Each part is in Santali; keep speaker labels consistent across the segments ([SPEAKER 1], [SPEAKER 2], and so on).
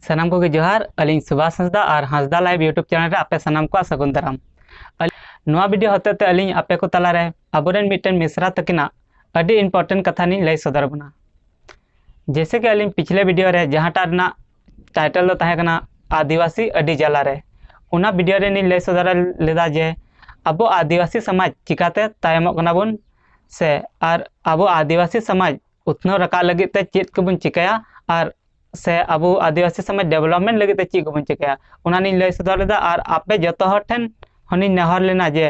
[SPEAKER 1] ᱥᱟᱱᱟᱢ ᱠᱚᱜᱮ ᱡᱚᱦᱟᱨ ᱟᱹᱞᱤᱧ ᱥᱩᱵᱷᱟᱥ ᱦᱟᱸᱥᱫᱟ ᱟᱨ ᱦᱟᱸᱥᱫᱟ ᱞᱟᱭᱤᱵ ᱤᱭᱩᱴᱩᱵᱽ ᱪᱮᱱᱮᱞ ᱨᱮ ᱟᱯᱮ ᱥᱟᱱᱟᱢ ᱠᱚᱣᱟᱜ ᱥᱟᱹᱜᱩᱱ ᱫᱟᱨᱟᱢ ᱱᱚᱣᱟ ᱵᱷᱤᱰᱤᱭᱳ ᱦᱚᱛᱮ ᱛᱮ ᱟᱹᱞᱤᱧ ᱟᱯᱮ ᱠᱚ ᱛᱟᱞᱟ ᱨᱮ ᱟᱵᱚᱨᱮᱱ ᱢᱤᱫᱴᱮᱱ ᱢᱤᱥᱨᱟ ᱛᱟᱹᱠᱤᱱᱟᱜ ᱟᱹᱰᱤ ᱤᱢᱯᱚᱨᱴᱮᱱᱴ ᱠᱟᱛᱷᱟ ᱞᱤᱧ ᱞᱟᱹᱭ ᱥᱚᱫᱚᱨ ᱟᱵᱚᱱᱟ ᱡᱮᱥᱮ ᱠᱤ ᱟᱹᱞᱤᱧ ᱯᱤᱪᱷᱞᱮ ᱵᱷᱤᱰᱤᱭᱳ ᱨᱮ ᱡᱟᱦᱟᱸᱴᱟᱜ ᱨᱮᱱᱟᱜ ᱴᱟᱭᱴᱮᱞ ᱫᱚ ᱛᱟᱦᱮᱸ ᱠᱟᱱᱟ ᱟᱹᱫᱤᱵᱟᱹᱥᱤ ᱟᱹᱰᱤ ᱡᱟᱞᱟ ᱨᱮ ᱚᱱᱟ ᱵᱷᱤᱰᱤᱭᱳ ᱨᱮ ᱞᱤᱧ ᱞᱟᱹᱭ ᱥᱚᱫᱚᱨ ᱞᱮᱫᱟ ᱡᱮ ᱟᱵᱚ ᱟᱹᱫᱤᱵᱟᱹᱥᱤ ᱥᱚᱢᱟᱡᱽ ᱪᱤᱠᱟᱛᱮ ᱛᱟᱭᱚᱢᱚᱜ ᱠᱟᱱᱟ ᱵᱚᱱ ᱥᱮ ᱟᱨ ᱟᱵᱚ ᱟᱹᱫᱤᱵᱟᱹᱥᱤ ᱥᱚᱢᱟᱡᱽ ᱩᱛᱱᱟᱹᱣ ᱨᱟᱠᱟᱵ ᱞᱟᱹᱜᱤᱫ ᱛᱮ ᱪᱮᱫ ᱠᱚᱵᱚᱱ ᱪᱤᱠᱟᱹᱭᱟ ᱟᱨ ᱥᱮ ᱟᱵᱚ ᱟᱹᱫᱤᱵᱟᱹᱥᱤ ᱥᱚᱢᱟᱡᱽ ᱰᱮᱵᱷᱞᱚᱯᱢᱮᱱᱴ ᱞᱟᱹᱜᱤᱫ ᱛᱮ ᱪᱮᱫ ᱠᱚᱵᱚᱱ ᱪᱤᱠᱟᱹᱭᱟ ᱚᱱᱟ ᱞᱤᱧ ᱞᱟᱹᱭ ᱥᱚᱫᱚᱨ ᱞᱮᱫᱟ ᱟᱨ ᱟᱯᱮ ᱡᱚᱛᱚ ᱦᱚᱲ ᱴᱷᱮᱱ ᱦᱚᱸᱞᱤᱧ ᱱᱮᱦᱚᱨ ᱞᱮᱱᱟ ᱡᱮ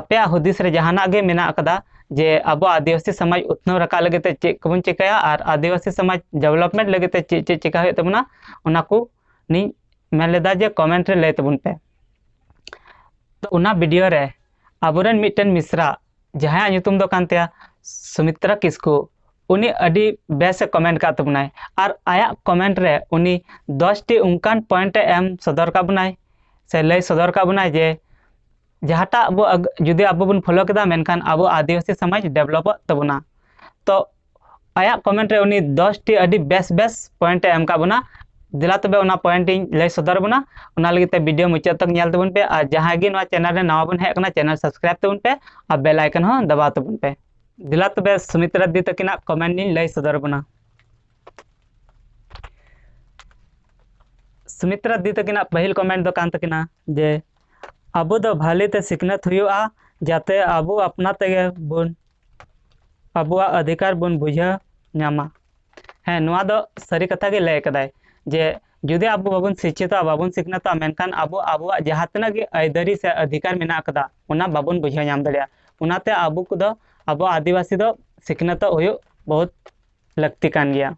[SPEAKER 1] ᱟᱯᱮᱭᱟᱜ ᱦᱩᱫᱤᱥ ᱨᱮ ᱡᱟᱦᱟᱱᱟᱜ ᱜᱮ ᱢᱮᱱᱟᱜ ᱟᱠᱟᱫᱟ ᱡᱮ ᱟᱵᱚ ᱟᱹᱫᱤᱵᱟᱹᱥᱤ ᱥᱚᱢᱟᱡᱽ ᱩᱛᱱᱟᱹᱣ ᱨᱟᱠᱟᱵ ᱞᱟᱹᱜᱤᱫ ᱛᱮ ᱪᱮᱫ ᱠᱚᱵᱚᱱ ᱪᱤᱠᱟᱹᱭᱟ ᱟᱨ ᱟᱹᱫᱤᱵᱟᱹᱥᱤ ᱥᱚᱢᱟᱡᱽ ᱰᱮᱵᱷᱞᱚᱯᱢᱮᱱᱴ ᱞᱟᱹᱜᱤᱫ ᱛᱮ ᱪᱮᱫ ᱪᱮᱫ ᱪᱤᱠᱟᱹ ᱦᱩᱭᱩᱜ ᱛᱟᱵᱚᱱᱟ ᱚᱱᱟ ᱠᱚ ᱞᱤᱧ ᱢᱮᱱ ᱞᱮᱫᱟ ᱡᱮ ᱠᱚᱢᱮᱱᱴ ᱨᱮ ᱞᱟᱹᱭ ᱛᱟᱵᱚᱱ ᱯᱮ ᱛᱚ ᱚᱱᱟ ᱵᱷᱤᱰᱤᱭᱳ ᱨᱮ ᱟᱵᱚᱨᱮᱱ ᱢᱤᱫᱴᱮᱱ ᱢᱤᱥᱨᱟ ᱡᱟᱦᱟᱸᱭᱟᱜ ᱧᱩᱛᱩᱢ ᱫᱚ ᱠᱟᱱ ᱛᱟᱭᱟ ᱥᱩᱢᱤᱛᱨᱟ ᱠᱤᱥᱠᱩ ᱩᱱᱤ ᱟᱹᱰᱤ ᱵᱮᱥᱮ ᱠᱚᱢᱮᱱᱴ ᱠᱟᱜ ᱛᱟᱵᱚᱱᱟᱭ ᱟᱨ ᱟᱭᱟᱜ ᱠᱚᱢᱮᱱᱴ ᱨᱮ ᱩᱱᱤ ᱫᱚᱥᱴᱤ ᱚᱱᱠᱟᱱ ᱯᱚᱭᱮᱱᱴᱮ ᱮᱢ ᱥᱚᱫᱚᱨ ᱠᱟᱜ ᱵᱚᱱᱟᱭ ᱥᱮ ᱞᱟᱹᱭ ᱥᱚᱫᱚᱨ ᱠᱟᱜ ᱵᱚᱱᱟᱭ ᱡᱮ ᱡᱟᱦᱟᱸᱴᱟᱜ ᱟᱵᱚ ᱡᱩᱫᱤ ᱟᱵᱚ ᱵᱚᱱ ᱯᱷᱳᱞᱳ ᱠᱮᱫᱟ ᱢᱮᱱᱠᱷᱟᱱ ᱟᱵᱚ ᱟᱹᱫᱤᱵᱟᱹᱥᱤ ᱥᱚᱢᱟᱡᱽ ᱰᱮᱵᱷᱞᱚᱯᱚᱜ ᱛᱟᱵᱚᱱᱟ ᱛᱚ ᱟᱭᱟᱜ ᱠᱚᱢᱮᱱᱴ ᱨᱮ ᱩᱱᱤ ᱫᱚᱥᱴᱤ ᱟᱹᱰᱤ ᱵᱮᱥ ᱵᱮᱥ ᱯᱚᱭᱮᱱᱴ ᱮ ᱮᱢ ᱠᱟᱜ ᱵᱚᱱᱟ ᱫᱮᱞᱟ ᱛᱚᱵᱮ ᱚᱱᱟ ᱯᱚᱭᱮᱱᱴ ᱤᱧ ᱞᱟᱹᱭ ᱥᱚᱫᱚᱨ ᱵᱚᱱᱟ ᱚᱱᱟ ᱞᱟᱹᱜᱤᱫ ᱛᱮ ᱵᱷᱤᱰᱤᱭᱳ ᱢᱩᱪᱟᱹᱫ ᱛᱚᱠ ᱧᱮᱞ ᱛᱟᱵᱚᱱ ᱯᱮ ᱟᱨ ᱡᱟᱦᱟᱸᱭ ᱜᱮ ᱱᱚᱣᱟ ᱪᱮᱱᱮᱞ ᱨᱮ ᱱᱟᱣᱟ ᱵᱚᱱ ᱦᱮᱡ ᱟᱠᱟᱱᱟ ᱪᱮᱱᱮᱞ ᱥᱟᱵᱥᱠᱨᱟᱭᱤᱵ ᱛᱟᱵᱚᱱ ᱯᱮ ᱟᱨ ᱵᱮᱞ ᱟᱭᱠᱚᱱ ᱦᱚᱸ ᱫᱟᱵᱟᱣ ᱛᱟᱵᱚᱱ ᱯᱮ ᱫᱮᱞᱟ ᱛᱚᱵᱮ ᱥᱩᱢᱤᱛᱨᱟ ᱫᱤ ᱛᱟᱹᱠᱤᱱᱟᱜ ᱠᱚᱢᱮᱱᱴ ᱤᱧ ᱞᱟᱹᱭ ᱥᱚᱫᱚᱨ ᱵᱚᱱᱟ ᱥᱩᱢᱤᱛᱨᱟ ᱫᱤ ᱛᱟᱹᱠᱤᱱᱟᱜ ᱯᱟᱹᱦᱤᱞ ᱠᱚᱢᱮᱱᱴ ᱫᱚ ᱠᱟᱱ ᱛᱟᱹᱠᱤᱱᱟ ᱡᱮ ᱟᱵᱚ ᱫᱚ ᱵᱷᱟᱞᱮ ᱛᱮ ᱥᱤᱠᱷᱱᱟᱹᱛ ᱦᱩᱭᱩᱜᱼᱟ ᱡᱟᱛᱮ ᱟᱵᱚ ᱟᱯᱱᱟ ᱛᱮᱜᱮ ᱵᱚᱱ ᱟᱵᱚᱣᱟᱜ ᱚᱫᱷᱤᱠᱟᱨ ᱵᱚᱱ ᱵᱩᱡᱷᱟᱹᱣ ᱧᱟᱢᱟ ᱦᱮᱸ ᱱᱚᱣᱟ ᱫᱚ ᱥᱟᱹᱨᱤ ᱠᱟᱛᱷᱟ ᱜᱮ ᱞᱟᱹᱭ ᱠᱟᱫᱟᱭ ᱡᱮ ᱡᱩᱫᱤ ᱟᱵᱚ ᱵᱟᱵᱚᱱ ᱥᱤᱪᱪᱷᱤᱛᱚᱜᱼᱟ ᱵᱟᱵᱚᱱ ᱥᱤᱠᱷᱱᱟᱹᱛᱚᱜᱼᱟ ᱢᱮᱱᱠᱷᱟᱱ ᱟᱵᱚ ᱟᱵᱚᱣᱟᱜ ᱡᱟᱦᱟᱸ ᱛᱤᱱᱟᱹᱜ ᱜᱮ ᱟᱹᱭᱫᱟᱹᱨᱤ ᱥᱮ ᱚᱫᱷᱤᱠᱟᱨ ᱢᱮᱱᱟᱜ ᱟᱠᱟᱫᱟ ᱚᱱᱟ ᱵᱟᱵᱚᱱ ᱵᱩᱡᱷᱟᱹᱣ ᱧᱟᱢ ᱫᱟᱲᱮᱭᱟᱜᱼᱟ ᱚᱱᱟᱛᱮ ᱟᱵᱚ ᱠᱚᱫᱚ ᱟᱵᱚ ᱟᱹᱫᱤᱵᱟᱹᱥᱤ ᱫᱚ ᱥᱤᱠᱷᱱᱟᱹᱛᱚᱜ ᱦᱩᱭᱩᱜ ᱵᱚᱦᱩᱛ ᱞᱟᱹᱠᱛᱤ ᱠᱟᱱ ᱜᱮᱭᱟ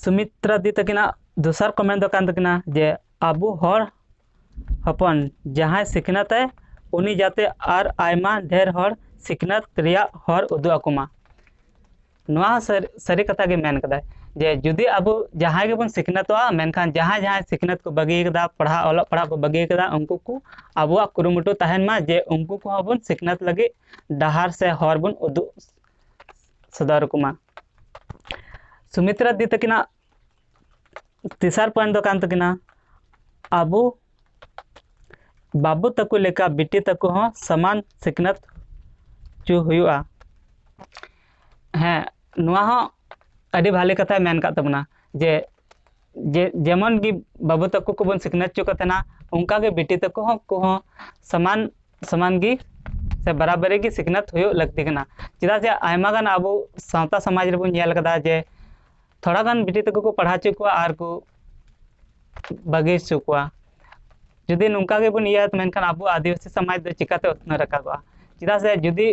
[SPEAKER 1] ᱥᱩᱢᱤᱛᱨᱟ ᱫᱤ ᱛᱟᱹᱠᱤᱱᱟᱜ ᱫᱚᱥᱟᱨ ᱠᱚᱢᱮᱱᱴ ᱫᱚ ᱠᱟᱱ ᱛᱟᱹᱠᱤᱱᱟ ᱡᱮ ᱟᱵᱚ ᱦᱚᱲ ᱦᱚᱯᱚᱱ ᱡᱟᱦᱟᱸᱭ ᱥᱤᱠᱷᱱᱟᱹᱛᱮ ᱩᱱᱤ ᱡᱟᱛᱮ ᱟᱨ ᱟᱭᱢᱟ ᱰᱷᱮᱨ ᱦᱚᱲ ᱥᱤᱠᱷᱱᱟᱹᱛ ᱨᱮᱭᱟᱜ ᱦᱚᱨ ᱩᱫᱩᱜ ᱟᱠᱚ ᱢᱟ ᱱᱚᱣᱟ ᱥᱟᱹᱨᱤ ᱥᱟᱹᱨᱤ ᱠᱟᱛᱷᱟ ᱜᱮ ᱢᱮᱱ ᱠᱟᱫᱟᱭ ᱡᱮ ᱡᱩᱫᱤ ᱟᱵᱚ ᱡᱟᱦᱟᱸᱭ ᱜᱮᱵᱚᱱ ᱥᱤᱠᱷᱱᱟᱹᱛᱚᱜᱼᱟ ᱢᱮᱱᱠᱷᱟᱱ ᱡᱟᱦᱟᱸᱭ ᱡᱟᱦᱟᱸᱭ ᱥᱤᱠᱷᱱᱟᱹᱛ ᱠᱚ ᱵᱟᱹᱜᱤ ᱠᱟᱫᱟ ᱯᱟᱲᱦᱟᱜ ᱚᱞᱚᱜ ᱯᱟᱲᱦᱟᱜ ᱠᱚ ᱵᱟᱹᱜᱤ ᱠᱟᱫᱟ ᱩᱱᱠᱩ ᱠᱚ ᱟᱵᱚᱣᱟᱜ ᱠᱩᱨᱩᱢᱩᱴᱩ ᱛᱟᱦᱮᱱ ᱢᱟ ᱡᱮ ᱩᱱᱠᱩ ᱠᱚᱦᱚᱸ ᱵᱚᱱ ᱥᱤᱠᱷᱱᱟᱹᱛ ᱞᱟᱹᱜᱤᱫ ᱰᱟᱦᱟᱨ ᱥᱮ ᱦᱚᱨ ᱵᱚᱱ ᱩᱫᱩᱜ ᱥᱚᱫᱚᱨ ᱠᱚᱢᱟ ᱥᱩᱢᱤᱛᱨᱟ ᱫᱤ ᱛᱟᱹᱠᱤᱱᱟᱜ ᱛᱮᱥᱟᱨ ᱯᱚᱭᱮᱱᱴ ᱫᱚ ᱠᱟᱱ ᱛᱟᱹᱠᱤᱱᱟ ᱟᱵᱚ ᱵᱟᱹᱵᱩ ᱛᱟᱠᱚ ᱞᱮᱠᱟ ᱵᱤᱴᱤ ᱛᱟᱠᱚ ᱦᱚᱸ ᱥᱚᱢᱟᱱ ᱥᱤᱠᱷᱱᱟᱹᱛ ᱪᱚ ᱦᱩᱭᱩᱜᱼᱟ ᱦᱮᱸ ᱱᱚᱣᱟ ᱦᱚᱸ ᱟᱹᱰᱤ ᱵᱷᱟᱞᱮ ᱠᱟᱛᱷᱟᱭ ᱢᱮᱱ ᱠᱟᱜ ᱛᱟᱵᱚᱱᱟ ᱡᱮ ᱡᱮ ᱡᱮᱢᱚᱱ ᱜᱮ ᱵᱟᱹᱵᱩ ᱛᱟᱠᱚ ᱠᱚᱵᱚᱱ ᱥᱤᱠᱷᱱᱟᱹᱛ ᱦᱚᱪᱚ ᱠᱚ ᱛᱟᱦᱮᱱᱟ ᱚᱱᱠᱟ ᱜᱮ ᱵᱤᱴᱤ ᱛᱟᱠᱚ ᱦᱚᱸ ᱩᱱᱠᱩ ᱦᱚᱸ ᱥᱚᱢᱟᱱ ᱥᱚᱢᱟᱱ ᱜᱮ ᱥᱮ ᱵᱟᱨᱟᱵᱟᱹᱨᱤ ᱜᱮ ᱥᱤᱠᱷᱱᱟᱹᱛ ᱦᱩᱭᱩᱜ ᱞᱟᱹᱠᱛᱤ ᱠᱟᱱᱟ ᱪᱮᱫᱟᱜ ᱡᱮ ᱟᱭᱢᱟ ᱜᱟᱱ ᱟᱵᱚ ᱥᱟᱶᱛᱟ ᱥᱚᱢᱟᱡᱽ ᱨᱮᱵᱚᱱ ᱧᱮᱞ ᱠᱟᱫᱟ ᱡᱮ ᱛᱷᱚᱲᱟ ᱜᱟᱱ ᱵᱤᱴᱤ ᱛᱟᱠᱚ ᱠᱚ ᱯᱟᱲᱦᱟᱣ ᱦᱚᱪᱚ ᱠᱚᱣᱟ ᱟᱨ ᱠᱚ ᱵᱟᱹᱜᱤ ᱦᱚᱪᱚ ᱠᱚᱣᱟ ᱡᱩᱫᱤ ᱱᱚᱝᱠᱟ ᱜᱮᱵᱚᱱ ᱤᱭᱟᱹᱭᱟ ᱢᱮᱱᱠᱷᱟᱱ ᱟᱵᱚ ᱟᱹᱫᱤᱵᱟᱹᱥᱤ ᱥᱚᱢᱟᱡᱽ ᱫᱚ ᱪᱤᱠᱟᱹᱛᱮ ᱩᱛᱱᱟᱹᱣ ᱨᱟᱠᱟᱵᱚᱜᱼᱟ ᱪᱮᱫᱟᱜ ᱥᱮ ᱡᱩᱫᱤ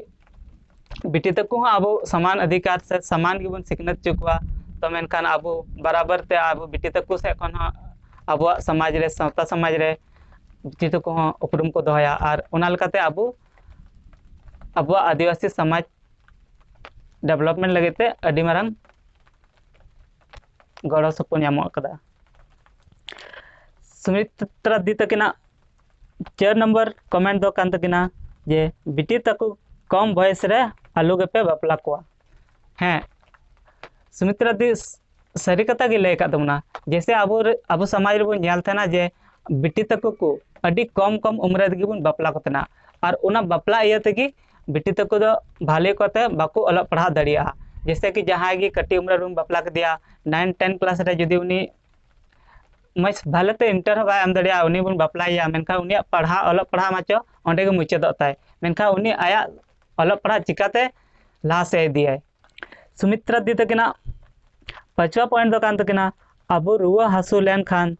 [SPEAKER 1] ᱵᱤᱴᱤ ᱛᱟᱠᱚ ᱦᱚᱸ ᱟᱵᱚ ᱥᱚᱢᱟᱱ ᱚᱫᱷᱤᱠᱟᱨ ᱥᱮ ᱥᱚᱢᱟᱱ ᱜᱮᱵᱚᱱ ᱥᱤᱠᱷᱱᱟᱹᱛ ᱦᱚᱪᱚ ᱠᱚᱣᱟ ᱛᱚ ᱢᱮᱱᱠᱷᱟᱱ ᱟᱵᱚ ᱵᱟᱨᱟᱵᱟᱨ ᱛᱮ ᱟᱵᱚ ᱵᱤᱴᱤ ᱛᱟᱠᱚ ᱥᱮᱫ ᱠᱷᱚᱱ ᱦᱚᱸ ᱟᱵᱚᱣᱟᱜ ᱥᱚᱢᱟᱡᱽ ᱨᱮ ᱥᱟᱶᱛᱟ ᱥᱚᱢᱟᱡᱽ ᱨᱮ ᱵᱤᱴᱤ ᱛᱟᱠᱚ ᱦᱚᱸ ᱩᱯᱨᱩᱢ ᱠᱚ ᱫᱚᱦᱚᱭᱟ ᱟᱨ ᱚᱱᱟ ᱞᱮᱠᱟᱛᱮ ᱟᱵᱚ ᱟᱵᱚᱣᱟᱜ ᱟᱹᱫᱤᱵᱟᱹᱥᱤ ᱥᱚᱢᱟᱡᱽ ᱰᱮᱵᱷᱞᱚᱯᱢᱮᱱᱴ ᱞᱟᱹᱜᱤᱫ ᱛᱮ ᱟᱹᱰᱤ ᱢᱟᱨᱟᱝ ᱜᱚᱲᱚ ᱥᱚᱯᱚᱦᱚᱫ ᱧᱟᱢᱚᱜ ᱠᱟᱫᱟ ᱥᱩᱢᱤᱛᱨᱟ ᱫᱤ ᱛᱟᱹᱠᱤᱱᱟᱜ ᱪᱟᱨ ᱱᱚᱢᱵᱚᱨ ᱠᱚᱢᱮᱱᱴ ᱫᱚ ᱠᱟᱱ ᱛᱟᱹᱠᱤᱱᱟ ᱡᱮ ᱵᱤᱴᱤ ᱛᱟᱠᱚ ᱠᱚᱢ ᱵᱚᱭᱮᱥ ᱨᱮ ᱟᱞᱚ ᱜᱮᱯᱮ ᱵᱟᱯᱞᱟ ᱠᱚᱣᱟ ᱦᱮᱸ ᱥᱩᱢᱤᱛᱨᱟ ᱫᱤ ᱥᱟᱹᱨᱤ ᱠᱟᱛᱷᱟ ᱜᱮ ᱞᱟᱹᱭ ᱟᱠᱟᱫ ᱛᱟᱵᱚᱱᱟ ᱡᱮᱭᱥᱮ ᱟᱵᱚ ᱟᱵᱚ ᱥᱚᱢᱟᱡᱽ ᱨᱮᱵᱚᱱ ᱧᱮᱞ ᱛᱟᱦᱮᱱᱟ ᱡᱮ ᱵᱤᱴᱤ ᱛᱟᱠᱚ ᱠᱚ ᱟᱹᱰᱤ ᱠᱚᱢ ᱠᱚᱢ ᱩᱢᱨᱮ ᱛᱮᱜᱮ ᱵᱚᱱ ᱵᱟᱯᱞᱟ ᱠᱚ ᱛᱟᱦᱮᱱᱟ ᱟᱨ ᱚᱱᱟ ᱵᱟᱯᱞᱟ ᱤᱭᱟᱹ ᱛᱮᱜᱮ ᱵᱤᱴᱤ ᱛᱟᱠᱚ ᱫᱚ ᱵᱷᱟᱞᱮ ᱠᱚᱛᱮ ᱵᱟᱠᱚ ᱚᱞᱚᱜ ᱯᱟᱲᱦᱟᱣ ᱫᱟᱲᱮᱭᱟᱜᱼᱟ ᱡᱮᱭᱥᱮ ᱠᱤ ᱡᱟᱦᱟᱸᱭ ᱜᱮ ᱠᱟᱹᱴᱤᱡ ᱩᱢᱮᱨ ᱨᱮᱢ ᱵᱟᱯᱞᱟ ᱠᱮᱫᱮᱭᱟ ᱱᱟᱭᱤᱱ ᱴᱮᱱ ᱠᱞᱟᱥ ᱨᱮ ᱡᱩᱫᱤ ᱩᱱᱤ ᱢᱚᱡᱽ ᱵᱷᱟᱞᱮ ᱛᱮ ᱤᱱᱴᱟᱨ ᱦᱚᱸ ᱵᱟᱭ ᱮᱢ ᱫᱟᱲᱮᱭᱟᱜᱼᱟ ᱩᱱᱤ ᱵᱚᱱ ᱵᱟᱯᱞᱟᱭᱮᱭᱟ ᱢᱮᱱᱠᱷᱟᱱ ᱩᱱᱤᱭᱟᱜ ᱯᱟᱲᱦᱟᱣ ᱚᱞᱚᱜ ᱯᱟᱲᱦᱟᱣ ᱢᱟᱪᱚ ᱚᱸᱰᱮ ᱜᱮ ᱢᱩᱪᱟᱹᱫᱚᱜ ᱛᱟᱭ ᱢᱮᱱᱠᱷᱟᱱ ᱩᱱᱤ ᱟᱭᱟᱜ ᱚᱞᱚᱜ ᱯᱟᱲᱦᱟᱜ ᱪᱤᱠᱟᱹᱛᱮ ᱞᱟᱦᱟ ᱥᱮᱫ ᱤᱫᱤᱭᱟᱭ ᱥᱩᱢᱤᱛᱨᱟ ᱫᱤᱫᱤ ᱛᱟᱹᱠᱤᱱᱟᱜ ᱯᱟᱸᱪᱣᱟ ᱯᱚᱭᱮᱱᱴ ᱫᱚ ᱠᱟᱱ ᱛᱟᱹᱠᱤᱱᱟ ᱟᱵᱚ ᱨᱩᱣᱟᱹ ᱦᱟᱹᱥᱩ ᱞᱮᱱᱠᱷᱟᱱ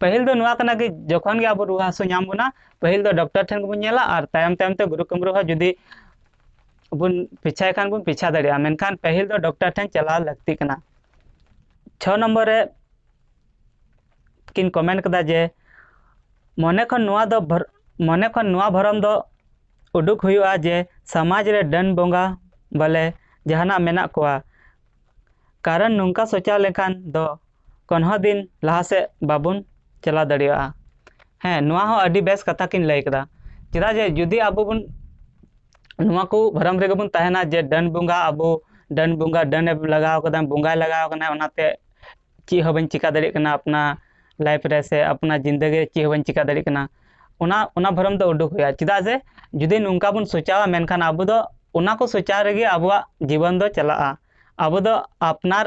[SPEAKER 1] ᱯᱟᱹᱦᱤᱞ ᱫᱚ ᱱᱚᱣᱟ ᱠᱟᱱᱟ ᱠᱤ ᱡᱚᱠᱷᱚᱱ ᱜᱮ ᱟᱵᱚ ᱨᱩᱣᱟᱹ ᱦᱟᱹᱥᱩ ᱧᱟᱢ ᱵᱚᱱᱟ ᱯᱟᱹᱦᱤᱞ ᱫᱚ ᱰᱚᱠᱴᱚᱨ ᱴᱷᱮᱱ ᱜᱮᱵᱚᱱ ᱧᱮᱞᱟ ᱟᱨ ᱛᱟᱭᱚᱢ ᱛᱟᱭᱚᱢ ᱛᱮ ᱜᱩᱨᱩ ᱠᱟᱹᱢᱨᱩ ᱦᱚᱸ ᱡᱩᱫᱤ ᱵᱚᱱ ᱯᱤᱪᱷᱟᱭ ᱠᱷᱟᱱ ᱵᱚᱱ ᱯᱤᱪᱷᱟ ᱫᱟᱲᱮᱭᱟᱜᱼᱟ ᱢᱮᱱᱠᱷᱟᱱ ᱯᱟᱹᱦᱤᱞ ᱫᱚ ᱰᱚᱠᱴᱚᱨ ᱴᱷᱮᱱ ᱪᱟᱞᱟᱣ ᱞᱟᱹᱠᱛᱤ ᱠᱟᱱᱟ ᱪᱷᱚ ᱱᱚᱢᱵᱚᱨ ᱨᱮ ᱠᱤᱱ ᱠᱚᱢᱮᱱᱴ ᱠᱮᱫᱟ ᱡᱮ ᱢᱚᱱᱮ ᱠᱷᱚᱱ ᱱᱚᱣᱟ ᱫᱚ ᱢᱚᱱᱮ ᱠᱷᱚᱱ ᱱᱚᱣᱟ ᱵᱷᱚᱨᱚᱢ ᱫᱚ ᱩᱰᱩᱠ ᱦᱩᱭᱩᱜᱼᱟ ᱡᱮ ᱥᱚᱢᱟᱡᱽ ᱨᱮ ᱰᱟᱹᱱ ᱵᱚᱸᱜᱟ ᱵᱚᱞᱮ ᱡᱟᱦᱟᱱᱟᱜ ᱢᱮᱱᱟᱜ ᱠᱚᱣᱟ ᱠᱟᱨᱚᱱ ᱱᱚᱝᱠᱟ ᱥᱚᱪᱟᱣ ᱞᱮᱠᱷᱟᱱ ᱫᱚ ᱠᱳᱱᱳ ᱦᱚᱸ ᱫᱤᱱ ᱞᱟᱦᱟ ᱥᱮᱫ ᱵᱟᱵᱚᱱ ᱪᱟᱞᱟᱣ ᱫᱟᱲᱮᱭᱟᱜᱼᱟ ᱦᱮᱸ ᱱᱚᱣᱟ ᱦᱚᱸ ᱟᱹᱰᱤ ᱵᱮᱥ ᱠᱟᱛᱷᱟ ᱠᱤᱱ ᱞᱟᱹᱭ ᱠᱟᱫᱟ ᱪᱮᱫᱟᱜ ᱡᱮ ᱡᱩᱫᱤ ᱟᱵᱚ ᱵᱚᱱ ᱱᱚᱣᱟ ᱠᱚ ᱵᱷᱚᱨᱚᱢ ᱨᱮᱜᱮ ᱵᱚᱱ ᱛᱟᱦᱮᱱᱟ ᱡᱮ ᱰᱟᱹᱱ ᱵᱚᱸᱜᱟ ᱟᱵᱚ ᱰᱟᱹᱱ ᱵᱚᱸᱜᱟ ᱰᱟᱹᱱᱮ ᱞᱟᱜᱟᱣ ᱠᱟᱫᱟ ᱵᱚᱸᱜᱟᱭ ᱞᱟᱜᱟᱣ ᱠᱟᱱᱟ ᱚᱱᱟᱛᱮ ᱪᱮᱫ ᱦᱚᱸ ᱵᱟᱹᱧ ᱪᱤᱠᱟᱹ ᱫᱟᱲᱮᱭᱟᱜ ᱠᱟᱱᱟ ᱟᱯᱱᱟᱨ ᱞᱟᱭᱤᱯᱷ ᱨᱮ ᱥᱮ ᱟᱯᱱᱟᱨ ᱡᱤᱱᱫᱮᱜᱤ ᱨᱮ ᱪᱮᱫ ᱦᱚᱸ ᱵᱟᱹᱧ ᱪᱤᱠᱟᱹ ᱫᱟᱲᱮᱭᱟᱜ ᱠᱟᱱᱟ ᱚᱱᱟ ᱚᱱᱟ ᱵᱷᱚᱨᱚᱢ ᱫᱚ ᱩᱰᱩᱠ ᱦᱩᱭᱩᱜᱼᱟ ᱪᱮᱫᱟᱜ ᱡᱮ ᱡᱩᱫᱤ ᱱᱚᱝᱠᱟ ᱵᱚᱱ ᱥᱚᱪᱟᱣᱟ ᱢᱮᱱᱠᱷᱟᱱ ᱟᱵᱚ ᱫᱚ ᱚᱱᱟ ᱠᱚ ᱥᱚᱪᱟᱣ ᱨᱮᱜᱮ ᱟᱵᱚᱣᱟᱜ ᱡᱤᱵᱚᱱ ᱫᱚ ᱪᱟᱞᱟᱜᱼᱟ ᱟᱵᱚ ᱫᱚ ᱟᱯᱱᱟᱨ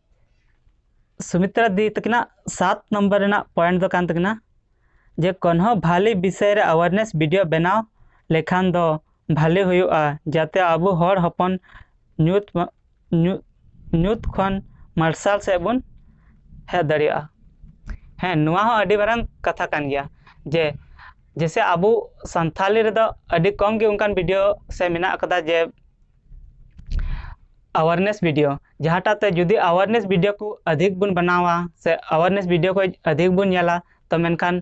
[SPEAKER 1] ᱥᱩᱢᱤᱛᱨᱟ ᱫᱤ ᱛᱟᱹᱠᱤᱱᱟᱜ ᱥᱟᱛ ᱱᱚᱢᱵᱚᱨ ᱨᱮᱱᱟᱜ ᱯᱚᱭᱮᱱᱴ ᱫᱚ ᱠᱟᱱ ᱛᱟᱹᱠᱤᱱᱟ ᱡᱮ ᱠᱳᱱᱦᱳ ᱵᱷᱟᱞᱮ ᱵᱤᱥᱚᱭ ᱨᱮ ᱟᱣᱟᱨᱱᱮᱥ ᱵᱷᱤᱰᱤᱭᱳ ᱵᱮᱱᱟᱣ ᱞᱮᱠᱷᱟᱱ ᱫᱚ ᱵᱷᱟᱞᱮ ᱦᱩᱭᱩᱜᱼᱟ ᱡᱟᱛᱮ ᱟᱵᱚ ᱦᱚᱲ ᱦᱚᱯᱚᱱ ᱧᱩᱛ ᱧᱩᱛ ᱧᱩᱛ ᱠᱷᱚᱱ ᱢᱟᱨᱥᱟᱞ ᱥᱮᱫ ᱵᱚᱱ ᱦᱮᱡ ᱫᱟᱲᱮᱭᱟᱜᱼᱟ ᱦᱮᱸ ᱱᱚᱣᱟ ᱦᱚᱸ ᱟᱹᱰᱤ ᱢᱟᱨᱟᱝ ᱠᱟᱛᱷᱟ ᱠᱟᱱ ᱜᱮᱭᱟ ᱡᱮ ᱡᱮᱭᱥᱮ ᱟᱵᱚ ᱥᱟᱱᱛᱷᱟᱞᱤ ᱨᱮᱫᱚ ᱟᱹᱰᱤ ᱠᱚᱢ ᱜᱮ ᱚᱱᱠᱟᱱ ᱵᱷᱤᱰᱤᱭᱳ ᱥᱮ ᱢᱮᱱᱟᱜ ᱠᱟᱫᱟ ᱡᱮ ᱟᱣᱟᱨᱱᱮᱥ ᱵᱷᱤᱰᱤᱭᱳ ᱡᱟᱦᱟᱸᱴᱟᱜ ᱛᱮ ᱡᱩᱫᱤ ᱟᱣᱟᱨᱱᱮᱥ ᱵᱷᱤᱰᱤᱭᱳ ᱠᱚ ᱟᱫᱷᱤᱠ ᱵᱚᱱ ᱵᱮᱱᱟᱣᱟ ᱥᱮ ᱟᱣᱟᱨᱱᱮᱥ ᱵᱷᱤᱰᱤᱭᱳ ᱠᱚ ᱟᱫᱷᱤᱠ ᱵᱚᱱ ᱧᱮᱞᱟ ᱛᱚ ᱢᱮᱱᱠᱷᱟᱱ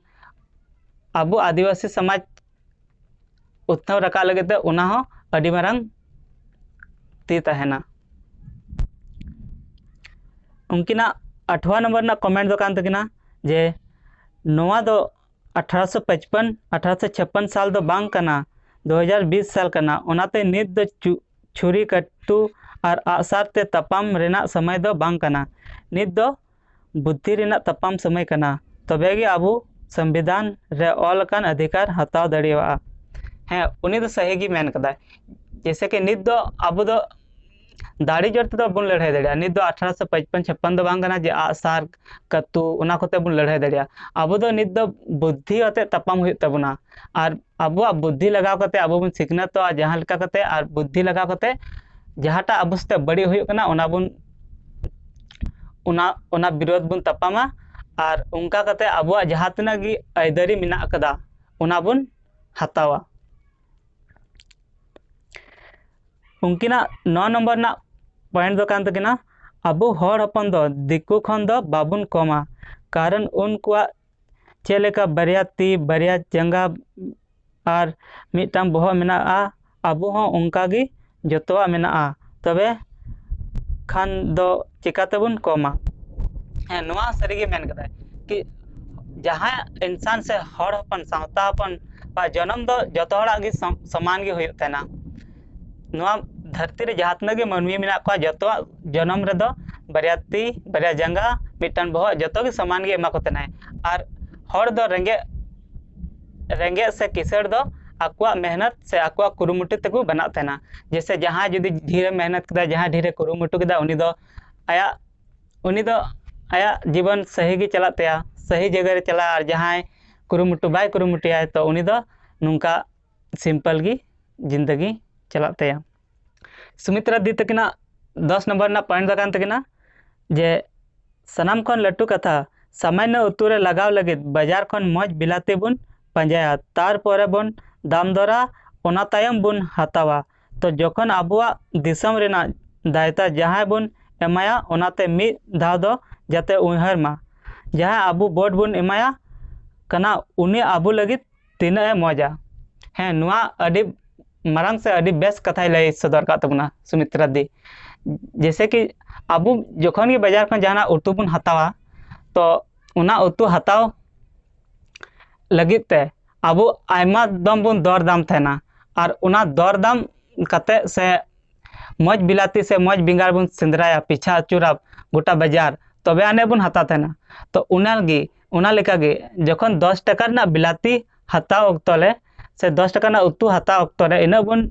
[SPEAKER 1] ᱟᱵᱚ ᱟᱹᱫᱤᱵᱟᱹᱥᱤ ᱥᱚᱢᱟᱡᱽ ᱩᱛᱱᱟᱹᱣ ᱨᱟᱠᱟᱵ ᱞᱟᱹᱜᱤᱫ ᱛᱮ ᱚᱱᱟ ᱦᱚᱸ ᱟᱹᱰᱤ ᱢᱟᱨᱟᱝ ᱛᱤ ᱛᱟᱦᱮᱱᱟ ᱩᱱᱠᱤᱱᱟᱜ ᱟᱴᱷᱣᱟ ᱱᱚᱢᱵᱚᱨ ᱨᱮᱱᱟᱜ ᱠᱚᱢᱮᱱᱴ ᱫᱚ ᱠᱟᱱ ᱛᱟᱹᱠᱤᱱᱟ ᱡᱮ ᱱᱚᱣᱟ ᱫᱚ ᱟᱴᱷᱟᱨᱚᱥᱚ ᱯᱟᱸᱪᱯᱚᱱ ᱟᱴᱷᱟᱨᱚᱥᱚ ᱪᱷᱟᱯᱯᱚᱱ ᱥᱟᱞ ᱫᱚ ᱵᱟᱝ ᱠᱟᱱᱟ ᱫᱩ ᱦᱟᱡᱟᱨ ᱵᱤᱥ ᱥᱟᱞ ᱠᱟᱱᱟ ᱚᱱᱟᱛᱮ ᱱᱤᱛ ᱫᱚ ᱪᱷᱩᱨᱤ ᱠᱟᱹᱴᱩ ᱟᱨ ᱟᱜᱼᱥᱟᱨ ᱛᱮ ᱛᱟᱯᱟᱢ ᱨᱮᱱᱟᱜ ᱥᱚᱢᱚᱭ ᱫᱚ ᱵᱟᱝ ᱠᱟᱱᱟ ᱱᱤᱛ ᱫᱚ ᱵᱩᱫᱽᱫᱷᱤ ᱨᱮᱱᱟᱜ ᱛᱟᱯᱟᱢ ᱥᱚᱢᱚᱭ ᱠᱟᱱᱟ ᱛᱚᱵᱮ ᱜᱮ ᱟᱵᱚ ᱥᱚᱝᱵᱤᱫᱷᱟᱱ ᱨᱮ ᱚᱞ ᱟᱠᱟᱱ ᱚᱫᱷᱤᱠᱟᱨ ᱦᱟᱛᱟᱣ ᱫᱟᱲᱮᱭᱟᱜᱼᱟ ᱦᱮᱸ ᱩᱱᱤ ᱫᱚ ᱥᱟᱹᱦᱤ ᱜᱮ ᱢᱮᱱ ᱠᱟᱫᱟᱭ ᱡᱮᱭᱥᱮ ᱠᱤ ᱱᱤᱛ ᱫᱚ ᱟᱵᱚ ᱫᱚ ᱫᱟᱲᱮ ᱡᱳᱨ ᱛᱮᱫᱚ ᱵᱟᱵᱚᱱ ᱞᱟᱹᱲᱦᱟᱹᱭ ᱫᱟᱲᱮᱭᱟᱜᱼᱟ ᱱᱤᱛ ᱫᱚ ᱟᱴᱷᱨᱚᱥᱚ ᱯᱟᱸᱪᱯᱚᱱ ᱪᱷᱟᱯᱯᱟᱱ ᱫᱚ ᱵᱟᱝ ᱠᱟᱱᱟ ᱡᱮ ᱟᱜ ᱥᱟᱨ ᱠᱟᱹᱛᱩ ᱚᱱᱟ ᱠᱚᱛᱮ ᱵᱚᱱ ᱞᱟᱹᱲᱦᱟᱹᱭ ᱫᱟᱲᱮᱭᱟᱜᱼᱟ ᱟᱵᱚ ᱫᱚ ᱱᱤᱛ ᱫᱚ ᱵᱩᱫᱽᱫᱷᱤ ᱟᱛᱮ ᱛᱟᱯᱟᱢ ᱦᱩᱭᱩᱜ ᱛᱟᱵᱚᱱᱟ ᱟᱨ ᱟᱵᱚᱣᱟᱜ ᱵᱩᱫᱽᱫᱷᱤ ᱞᱟᱜᱟᱣ ᱠᱟᱛᱮ ᱟᱵᱚ ᱵᱚᱱ ᱥᱤᱠᱷᱱᱟᱹᱛᱚᱜᱼᱟ ᱡᱟᱦᱟᱸ ᱞᱮᱠᱟ ᱠᱟᱛᱮ ᱟᱨ ᱵᱩᱫᱽᱫᱷᱤ ᱞᱟᱜᱟᱣ ᱠᱟᱛᱮ ᱡᱟᱦᱟᱸᱴᱟᱜ ᱟᱵᱚ ᱥᱟᱛᱮ ᱵᱟᱹᱲᱤᱡ ᱦᱩᱭᱩᱜ ᱠᱟᱱᱟ ᱚᱱᱟ ᱵᱚᱱ ᱚᱱᱟ ᱚᱱᱟ ᱵᱤᱨᱳᱫᱷ ᱵᱚᱱ ᱛᱟᱯᱟᱢᱟ ᱟᱨ ᱚᱱᱠᱟ ᱠᱟᱛᱮ ᱟᱵᱚᱣᱟᱜ ᱡᱟᱦᱟᱸ ᱛᱤᱱᱟᱹᱜ ᱜᱮ ᱟᱹᱭᱫᱟᱹᱨᱤ ᱢᱮᱱᱟᱜ ᱠᱟᱫᱟ ᱚᱱᱟ ᱵᱚᱱ ᱦᱟᱛᱟᱣᱟ ᱩᱱᱠᱤᱱᱟᱜ ᱱᱚ ᱱᱚᱢᱵᱚᱨ ᱨᱮᱱᱟᱜ ᱯᱚᱭᱮᱱᱴ ᱫᱚ ᱠᱟᱱ ᱛᱟᱹᱠᱤᱱᱟ ᱟᱵᱚ ᱦᱚᱲ ᱦᱚᱯᱚᱱ ᱫᱚ ᱫᱤᱠᱩ ᱠᱷᱚᱱ ᱫᱚ ᱵᱟᱵᱚᱱ ᱠᱚᱢᱟ ᱠᱟᱨᱚᱱ ᱩᱱᱠᱩᱣᱟᱜ ᱪᱮᱫ ᱞᱮᱠᱟ ᱵᱟᱨᱭᱟ ᱛᱤ ᱵᱟᱨᱭᱟ ᱡᱟᱸᱜᱟ ᱟᱨ ᱢᱤᱫᱴᱟᱝ ᱵᱚᱦᱚᱜ ᱢᱮᱱᱟᱜᱼᱟ ᱟᱵᱚ ᱦᱚᱸ ᱚᱱᱠᱟ ᱜᱮ ᱡᱚᱛᱚᱣᱟᱜ ᱢᱮᱱᱟᱜᱼᱟ ᱛᱚᱵᱮ ᱠᱷᱟᱱ ᱫᱚ ᱪᱤᱠᱟᱹᱛᱮᱵᱚᱱ ᱠᱚᱢᱟ ᱦᱮᱸ ᱱᱚᱣᱟ ᱥᱟᱹᱨᱤᱜᱮ ᱢᱮᱱ ᱠᱟᱫᱟᱭ ᱠᱤ ᱡᱟᱦᱟᱸ ᱤᱱᱥᱟᱱ ᱥᱮ ᱦᱚᱲ ᱦᱚᱯᱚᱱ ᱥᱟᱶᱛᱟ ᱦᱚᱯᱚᱱ ᱵᱟ ᱡᱚᱱᱚᱢ ᱫᱚ ᱡᱚᱛᱚ ᱦᱚᱲᱟᱜ ᱜᱮ ᱥᱚᱢᱟᱱ ᱜᱮ ᱦᱩᱭᱩᱜ ᱛᱟᱦᱮᱱᱟ ᱱᱚᱣᱟ ᱫᱷᱟᱹᱨᱛᱤ ᱨᱮ ᱡᱟᱦᱟᱸ ᱛᱤᱱᱟᱹᱜ ᱜᱮ ᱢᱟᱹᱱᱢᱤ ᱢᱮᱱᱟᱜ ᱠᱚᱣᱟ ᱡᱚᱛᱚᱣᱟᱜ ᱡᱚᱱᱚᱢ ᱨᱮᱫᱚ ᱵᱟᱨᱭᱟ ᱛᱤ ᱵᱟᱨᱭᱟ ᱡᱟᱸᱜᱟ ᱢᱤᱫᱴᱟᱱ ᱵᱚᱦᱚᱜ ᱡᱚᱛᱚᱜᱮ ᱥᱚᱢᱟᱱ ᱜᱮ ᱮᱢᱟ ᱠᱚ ᱛᱟᱦᱮᱱᱟᱭ ᱟᱨ ᱦᱚᱲ ᱫᱚ ᱨᱮᱸᱜᱮᱡ ᱨᱮᱸᱜᱮᱡ ᱥᱮ ᱠᱤᱥᱟᱹᱬ ᱫᱚ ᱟᱠᱚᱣᱟᱜ ᱢᱮᱦᱱᱚᱛ ᱥᱮ ᱟᱠᱚᱣᱟᱜ ᱠᱩᱨᱩᱢᱩᱴᱩ ᱛᱮᱠᱚ ᱵᱮᱱᱟᱜ ᱛᱟᱦᱮᱱᱟ ᱡᱮᱭᱥᱮ ᱡᱟᱦᱟᱸᱭ ᱡᱩᱫᱤ ᱰᱷᱮᱨᱮ ᱢᱮᱦᱱᱚᱛ ᱠᱮᱫᱟ ᱡᱟᱦᱟᱸᱭ ᱰᱷᱮᱨᱮ ᱠᱩᱨᱩᱢᱩᱴᱩ ᱠᱮᱫᱟ ᱩᱱᱤ ᱫᱚ ᱟᱭᱟᱜ ᱩᱱᱤ ᱫᱚ ᱟᱭᱟᱜ ᱡᱤᱵᱚᱱ ᱥᱟᱹᱦᱤ ᱜᱮ ᱪᱟᱞᱟᱜ ᱛᱟᱭᱟ ᱥᱟᱹᱦᱤ ᱡᱟᱭᱜᱟ ᱨᱮ ᱪᱟᱞᱟᱜᱼᱟ ᱟᱨ ᱡᱟᱦᱟᱸᱭ ᱠᱩᱨᱩᱢᱩᱴᱩ ᱵᱟᱭ ᱠᱩᱨᱩᱢᱩᱴᱩᱭᱟ ᱛᱚ ᱩᱱᱤ ᱫᱚ ᱱᱚᱝᱠᱟ ᱥᱤᱢᱯᱮᱞ ᱜᱮ ᱡᱤᱱᱫᱮᱜᱤ ᱪᱟᱞᱟᱜ ᱛᱟᱭᱟ ᱥᱩᱢᱤᱛᱨᱟ ᱫᱤ ᱛᱟᱹᱠᱤᱱᱟᱜ ᱫᱚᱥ ᱱᱚᱢᱵᱚᱨ ᱨᱮᱱᱟᱜ ᱯᱚᱭᱮᱱᱴ ᱫᱚ ᱠᱟᱱ ᱛᱟᱹᱠᱤᱱᱟ ᱡᱮ ᱥᱟᱱᱟᱢ ᱠᱷᱚᱱ ᱞᱟᱹᱴᱩ ᱠᱟᱛᱷᱟ ᱥᱟᱢᱟᱱᱱᱚ ᱩᱛᱩ ᱨᱮ ᱞᱟᱜᱟᱣ ᱞᱟᱹᱜᱤᱫ ᱵᱟᱡᱟᱨ ᱠᱷᱚᱱ ᱢᱚᱡᱽ ᱵᱤᱞᱟᱹᱛᱤ ᱵᱚᱱ ᱯᱟᱸᱡᱟᱭᱟ ᱛᱟᱨᱯᱚᱨᱮ ᱵᱚᱱ ᱫᱟᱢ ᱫᱚᱨᱟ ᱚᱱᱟ ᱛᱟᱭᱚᱢ ᱵᱚᱱ ᱦᱟᱛᱟᱣᱟ ᱛᱚ ᱡᱚᱠᱷᱚᱱ ᱟᱵᱚᱣᱟᱜ ᱫᱤᱥᱚᱢ ᱨᱮᱱᱟᱜ ᱫᱟᱭᱤᱛᱛᱚ ᱡᱟᱦᱟᱸᱭ ᱵᱚᱱ ᱮᱢᱟᱭᱟ ᱚᱱᱟᱛᱮ ᱢᱤᱫ ᱫᱷᱟᱣ ᱫᱚ ᱡᱟᱛᱮ ᱩᱭᱦᱟᱹᱨ ᱢᱟ ᱡᱟᱦᱟᱸᱭ ᱟᱵᱚ ᱵᱷᱳᱴ ᱵᱚᱱ ᱮᱢᱟᱭᱟ ᱠᱟᱱᱟ ᱩᱱᱤ ᱟᱵᱚ ᱞᱟᱹᱜᱤᱫ ᱛᱤᱱᱟᱹᱜ ᱮ ᱢᱚᱡᱟ ᱦᱮᱸ ᱱᱚᱣᱟ ᱟᱹᱰᱤ ᱢᱟᱨᱟᱝ ᱥᱮ ᱟᱹᱰᱤ ᱵᱮᱥ ᱠᱟᱛᱷᱟᱭ ᱞᱟᱹᱭ ᱥᱚᱫᱚᱨ ᱟᱠᱟᱫ ᱛᱟᱵᱚᱱᱟ ᱥᱩᱢᱤᱛᱨᱟ ᱫᱤ ᱡᱮᱭᱥᱮ ᱠᱤ ᱟᱵᱚ ᱡᱚᱠᱷᱚᱱ ᱜᱮ ᱵᱟᱡᱟᱨ ᱠᱷᱚᱱ ᱡᱟᱦᱟᱱᱟᱜ ᱩᱛᱩ ᱵᱚᱱ ᱦᱟᱛᱟᱣᱟ ᱛᱚ ᱚᱱᱟ ᱩᱛᱩ ᱦᱟᱛᱟᱣ ᱞᱟᱹᱜᱤᱫ ᱛᱮ ᱟᱵᱚ ᱟᱭᱢᱟ ᱫᱚᱢ ᱵᱚᱱ ᱫᱚᱨ ᱫᱟᱢ ᱛᱟᱦᱮᱱᱟ ᱟᱨ ᱚᱱᱟ ᱫᱚᱨ ᱫᱟᱢ ᱠᱟᱛᱮᱫ ᱥᱮ ᱢᱚᱡᱽ ᱵᱤᱞᱟᱹᱛᱤ ᱥᱮ ᱢᱚᱡᱽ ᱵᱮᱸᱜᱟᱲ ᱵᱚᱱ ᱥᱮᱸᱫᱽᱨᱟᱭᱟ ᱯᱤᱪᱷᱟ ᱟᱹᱪᱩᱨᱟ ᱜᱚᱴᱟ ᱵᱟᱡᱟᱨ ᱛᱚᱵᱮ ᱟᱹᱱᱤᱡ ᱵᱚᱱ ᱦᱟᱛᱟᱣ ᱛᱟᱦᱮᱱᱟ ᱛᱚ ᱚᱱᱟᱜᱮ ᱚᱱᱟ ᱞᱮᱠᱟ ᱜᱮ ᱡᱚᱠᱷᱚᱱ ᱫᱚᱥ ᱴᱟᱠᱟ ᱨᱮᱱᱟᱜ ᱵᱤᱞᱟᱹᱛᱤ ᱦᱟᱛᱟᱣ ᱚᱠᱛᱚ ᱨᱮ ᱥᱮ ᱫᱚᱥ ᱴᱟᱠᱟ ᱨᱮᱱᱟᱜ ᱩᱛᱩ ᱦᱟᱛᱟᱣ ᱚᱠᱛᱚ ᱨᱮ ᱤᱱᱟᱹᱜ ᱵᱚᱱ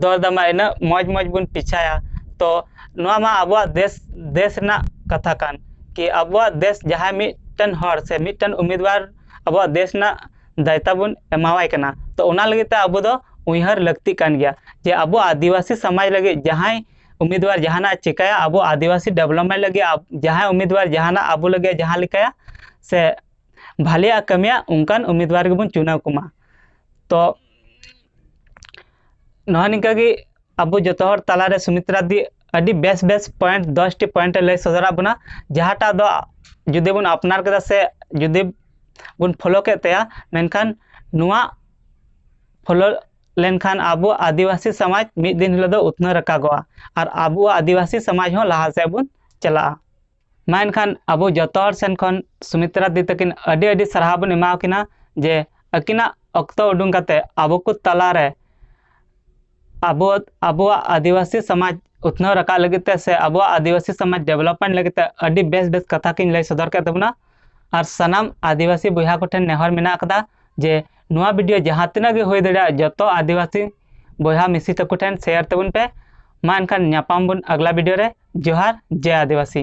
[SPEAKER 1] ᱫᱚᱨ ᱫᱟᱢᱟ ᱤᱱᱟᱹᱜ ᱢᱚᱡᱽ ᱢᱚᱡᱽ ᱵᱚᱱ ᱯᱮᱪᱷᱟᱭᱟ ᱛᱚ ᱱᱚᱣᱟ ᱢᱟ ᱟᱵᱚᱣᱟᱜ ᱫᱮᱥ ᱫᱮᱥ ᱨᱮᱱᱟᱜ ᱠᱟᱛᱷᱟ ᱠᱟᱱ ᱠᱤ ᱟᱵᱚᱣᱟᱜ ᱫᱮᱥ ᱡᱟᱦᱟᱸᱭ ᱢᱤᱫᱴᱮᱱ ᱦᱚᱲ ᱥᱮ ᱢᱤᱫᱴᱮᱱ ᱩᱢᱮᱫᱽᱣᱟᱨ ᱟᱵᱚᱣᱟᱜ ᱫᱮᱥ ᱨᱮᱱᱟᱜ ᱫᱟᱭᱤᱛᱛᱚ ᱵᱚᱱ ᱮᱢᱟᱣᱟᱭ ᱠᱟᱱᱟ ᱛᱚ ᱚᱱᱟ ᱞᱟᱹᱜᱤᱫ ᱛᱮ ᱟᱵᱚ ᱫᱚ ᱩᱭᱦᱟᱹᱨ ᱞᱟᱹᱠᱛᱤᱜ ᱠᱟᱱ ᱜᱮᱭᱟ ᱡᱮ ᱟᱵᱚ ᱟᱹᱫᱤᱵᱟᱹᱥᱤ ᱥᱚᱢᱟᱡᱽ ᱞᱟᱹᱜᱤᱫ ᱡᱟᱦᱟᱸᱭ ᱩᱢᱤᱫᱣᱟᱨ ᱡᱟᱦᱟᱱᱟᱜ ᱪᱤᱠᱟᱹᱭᱟ ᱟᱵᱚ ᱟᱹᱫᱤᱵᱟᱹᱥᱤ ᱰᱮᱵᱷᱞᱚᱯᱢᱮᱱᱴ ᱞᱟᱹᱜᱤᱫ ᱡᱟᱦᱟᱸᱭ ᱩᱢᱤᱫᱣᱟᱨ ᱡᱟᱦᱟᱱᱟᱜ ᱟᱵᱚ ᱞᱟᱹᱜᱤᱫ ᱡᱟᱦᱟᱸ ᱞᱮᱠᱟᱭᱟ ᱥᱮ ᱵᱷᱟᱞᱮᱭᱟᱜ ᱠᱟᱹᱢᱤᱭᱟ ᱚᱱᱠᱟᱱ ᱩᱢᱤᱫᱣᱟᱨ ᱜᱮᱵᱚᱱ ᱪᱩᱱᱟᱹᱣ ᱠᱚᱢᱟ ᱛᱚ ᱱᱚᱜᱼᱚᱭ ᱱᱤᱝᱠᱟᱹ ᱜᱮ ᱟᱵᱚ ᱡᱚᱛᱚ ᱦᱚᱲ ᱛᱟᱞᱟᱨᱮ ᱥᱩᱢᱤᱛᱨᱟ ᱫᱤ ᱟᱹᱰᱤ ᱵᱮᱥ ᱵᱮᱥ ᱯᱚᱭᱮᱱᱴ ᱫᱚᱥᱴᱤ ᱯᱚᱭᱮᱱᱴ ᱞᱟᱹᱭ ᱥᱚᱫᱚᱨᱟᱜ ᱵᱚᱱᱟ ᱡᱟᱦᱟᱸᱴᱟᱜ ᱫᱚ ᱡᱩᱫᱤ ᱵᱚᱱ ᱟᱯᱱᱟᱨ ᱠᱮᱫᱟ ᱥᱮ ᱡᱩᱫᱤ ᱵᱚᱱ ᱯᱷᱳᱞᱳ ᱠᱮᱫ ᱛᱟᱭᱟ ᱢᱮᱱᱠᱷᱟᱱ ᱱᱚᱣᱟ ᱯᱷᱳᱞᱳ ᱞᱮᱱᱠᱷᱟᱱ ᱟᱵᱚ ᱟᱹᱫᱤᱵᱟᱹᱥᱤ ᱥᱚᱢᱟᱡᱽ ᱢᱤᱫ ᱫᱤᱱ ᱦᱤᱞᱳᱜ ᱫᱚ ᱩᱛᱱᱟᱹᱣ ᱨᱟᱠᱟᱵᱚᱜᱼᱟ ᱟᱨ ᱟᱵᱚᱣᱟᱜ ᱟᱹᱫᱤᱵᱟᱹᱥᱤ ᱥᱚᱢᱟᱡᱽ ᱦᱚᱸ ᱞᱟᱦᱟ ᱥᱮᱫ ᱵᱚᱱ ᱪᱟᱞᱟᱜᱼᱟ ᱢᱟ ᱮᱱᱠᱷᱟᱱ ᱟᱵᱚ ᱡᱚᱛᱚ ᱦᱚᱲ ᱥᱮᱱ ᱠᱷᱚᱱ ᱥᱩᱢᱤᱛᱨᱟ ᱫᱤ ᱛᱟᱹᱠᱤᱱ ᱟᱹᱰᱤ ᱟᱹᱰᱤ ᱥᱟᱨᱦᱟᱣ ᱵᱚᱱ ᱮᱢᱟ ᱠᱤᱱᱟ ᱡᱮ ᱟᱹᱠᱤᱱᱟᱜ ᱚᱠᱛᱚ ᱩᱰᱩᱝ ᱠᱟᱛᱮ ᱟᱵᱚ ᱠᱚ ᱛᱟᱞᱟᱨᱮ ᱟᱵᱚ ᱟᱵᱚᱣᱟᱜ ᱟᱹᱫᱤᱵᱟᱹᱥᱤ ᱥᱚᱢᱟᱡᱽ ᱩᱛᱱᱟᱹᱣ ᱨᱟᱠᱟᱵ ᱞᱟᱹᱜᱤᱫ ᱛᱮ ᱥᱮ ᱟᱵᱚᱣᱟᱜ ᱟᱹᱫᱤᱵᱟᱹᱥᱤ ᱥᱚᱢᱟᱡᱽ ᱰᱮᱵᱷᱞᱚᱯᱢᱮᱱᱴ ᱞᱟᱹᱜᱤᱫ ᱛᱮ ᱟᱹᱰᱤ ᱵᱮᱥ ᱵᱮᱥ ᱠᱟᱛᱷᱟ ᱠᱤᱱ ᱞᱟᱹᱭ ᱥᱚᱫᱚᱨ ᱠᱮᱫ ᱛᱟᱵᱚᱱᱟ ᱟᱨ ᱥᱟᱱᱟᱢ ᱟᱹᱫᱤᱵᱟᱹᱥᱤ ᱵᱚᱭᱦᱟ ᱠᱚ ᱴᱷᱮᱱ ᱱᱮᱦᱚᱨ ᱢᱮᱱᱟᱜ ᱟᱠᱟᱫᱟ ᱡᱮ ᱱᱚᱣᱟ ᱵᱷᱤᱰᱤᱭᱳ ᱡᱟᱦᱟᱸ ᱛᱤᱱᱟᱹᱜ ᱜᱮ ᱦᱩᱭ ᱫᱟᱲᱮᱭᱟᱜ ᱡᱚᱛᱚ ᱟᱹᱫᱤᱵᱟᱹᱥᱤ ᱵᱚᱭᱦᱟ ᱢᱤᱥᱤ ᱛᱟᱠᱚ ᱴᱷᱮᱱ ᱥᱮᱭᱟᱨ ᱛᱟᱵᱚᱱ ᱯᱮ ᱢᱟ ᱮᱱᱠᱷᱟᱱ ᱧᱟᱯᱟᱢ ᱵᱚᱱ ᱟᱜᱽᱞᱟ ᱵᱷᱤᱰᱤᱭᱳ ᱨᱮ ᱡᱚᱦᱟᱨ ᱡᱮ ᱟᱹᱫᱤᱵᱟᱹᱥᱤ